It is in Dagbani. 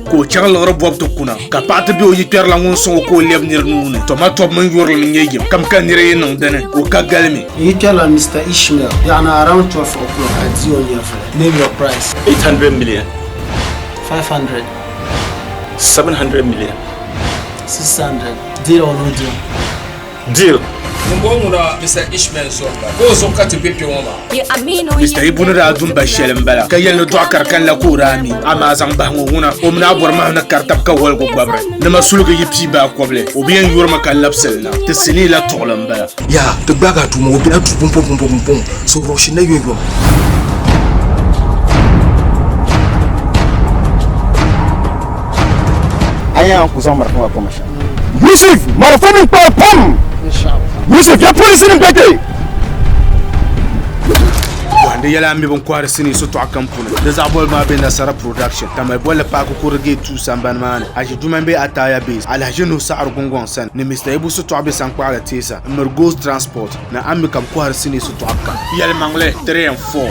ka o chaŋ liɣiri bɔbu ti kuna ka paɣa ti be o yikpɛrila ŋun sɔŋ o ka o lɛbi nir nuu ni tɔma tɔbu mini yurilim n-nyɛ yim kam ka nir yi niŋ dini ka o ka galimi. N yikpɛrila Mister Ishmael yaɣi na around 12 o'clock ka di o nyɛvuli. Name your price. 800 million. 500. 700 million. 600. Deal or no deal? Deal. Ŋunbɔŋɔ ŋuna Mister Ishmael zuɣu n bala ka o zuɣu ka ti be kpe ŋɔ maa. Mister Ibu ni daa du m ba shɛli n bala ka yɛli ni dɔɣu ka di kani la ka o daa mi amaa zaŋ bahi ŋɔ ŋuna o mini abɔri mahi ni kari tab ka waligu gbabiri ni ma suligi yi pii baa kɔbili o bi yɛn yuri mi ka labisi li na ti sinii la tuɣili n bala. Yaa ti gbaagi a tuuma o bela duu pumpɔŋ pumpɔŋ pumpɔŋ so ruɣu shinda yom yom. Aya ku zaŋ marafa maa koma shɛm. Yusuf marafa min kpaa pam Yusuf ya polisi nim bɛ kpe. Bohandi yɛla a mi bin kɔhiri sinii sitɔɣu kam puuni di zaɣiboli maa bɛ Nasara Production Tamale bolli paaki kuri geeti tuu sambani maa ni Haji Juma m-be Ataaya Base Alhaji Nuhu Saɣiri Gungɔŋ sani ni Mister Ibu sitɔɣu be Sankpaɣili Teesa m miri Goals Transport ni a mi ka bɛ kɔhiri sinii sitɔɣu kam Yɛlimaŋli 3 and 4.